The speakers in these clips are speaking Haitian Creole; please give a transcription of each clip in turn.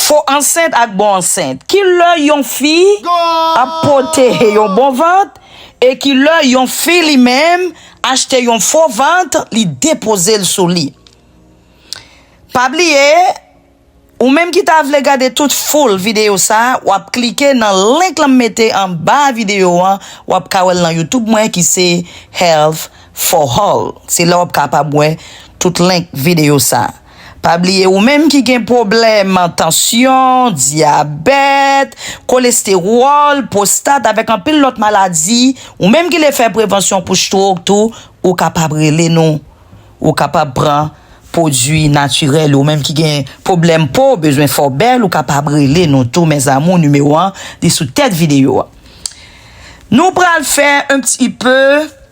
Fo ansent ak bon ansent. Ki lè yon fi ap pote yon bon vant e ki lè yon fi li menm achte yon fo vant li depoze l sou li. Pa bliye ou menm ki ta vle gade tout full video sa wap klike nan link lan m mete anba video an wap ka wè l nan youtube mwen ki se Health for all se la wap kapab wè tout link video sa. Pa bliye ou menm ki gen pwoblèm tansyon, dyabèt, kolestewòl, pwostat avèk anpil lòt maladi, ou menm ki vle fè prevansyon pou strok tou, ou kapab rele nou. Ou kapab pran pwodui natirèl yo. Ou menm ki gen pwoblèm po, bezwen fè w bèl, ou kapab rele nou tou mes amours nimewo an li sou tèt videyo a. Nou pral fè un pti peu.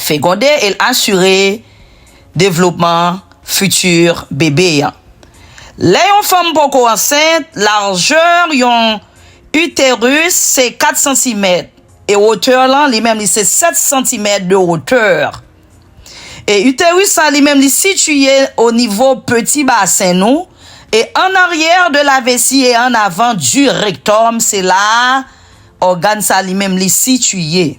fegonde e l asire devlopman fiti bebe a. Lè yon fanm poko ansent, larjè yon uterus se 4 santimèt e wotè lan li menm li se 7 santimèt de wotè. E uterus sa li menm li sitiye o nivo peti basen nou e an aryè de la vesi e an avan du rektòm se la ògàn sa li menm li sitiye.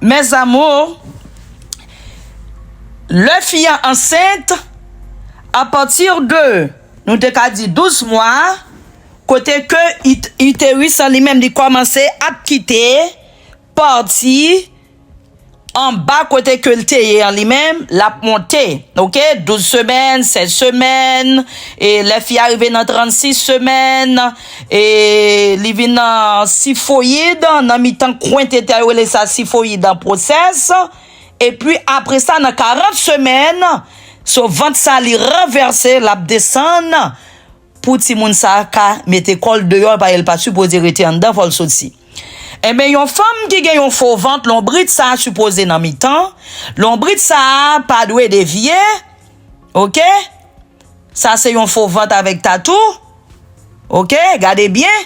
Mes amours lè fi an ansent a partir de nou te ka di 12 mwa kote ke uterus an li menm li komanse ap kite pati anba kote ke l te ye an li menm lap monte ok 12 semèn 16 semèn e lè fi a rive nan 36 semèn. E li vin nan sifoyid, nan mitan kwen tete a, yo rele sa sifoyid an pwosès. E pi apre sa nan 40 semèn, so vant sa li ranvèse, l ap desann pou timoun sa ka mete kò l deyò paske l pa sipoze rete anndan, fò l soti. Enben yon fanm ki gen yon fo vant, lonbrit sa sipoze nan mitan, lonbrit sa pa dwe devye, oke. Sa se yon fo vant avèk tatou ok gade byen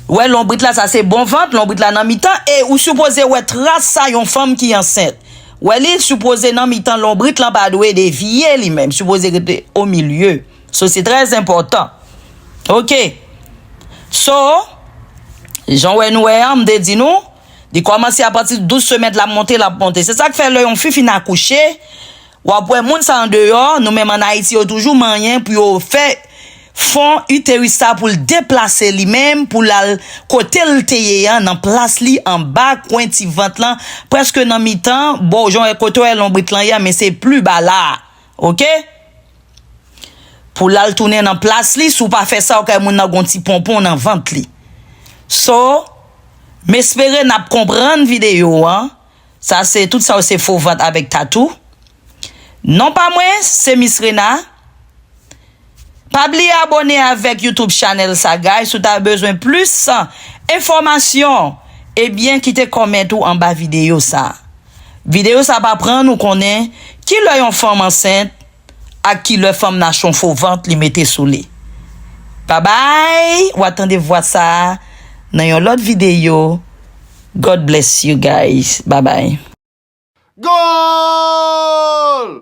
ou wè lonbrit la sa se bon vant lonbrit la nan mitan e ou sipoze wè tras sa yon fanm ki ansent wè li sipoze nan mitan lonbrit lan pa dwe devye li menm sipoze rete o milye so se trè enpòtan ok so jan wè nou wè an m te di nou li kòmanse apati 12 semèt lap monte lap monte se sak fè lè yon fi fin akouche. Wap wè moun sa andeyò nou menm an Ayiti yo toujou manyen pou yo fè fon uterus sa poul deplase li menm poul al kotel te ye an nan plas li anba kwen ti vant lan preske nan mitan bò jan wè kote wè lonbrit lan ye an men se plu ba la ok poul al tounen nan plas li si w pa fè sa ok moun nan gon ti ponpon nan vant li so m espere nap konprann video an. Sa se tout sa yo se fo vant avek tatou Non pa mwen se Miss Rena Pa bliye abone avek YouTube Chanel sa guys si w ta bezwen plus enfomasyon ebyen kite comment ou anba video sa Video sa pa pran nou konnen kilè yon fanm ansent ak ki lè fanm nan chon fo vant li mete sou li babay wa tande vwa sa nan yon lòt videyo God bless you guys babay. Goal!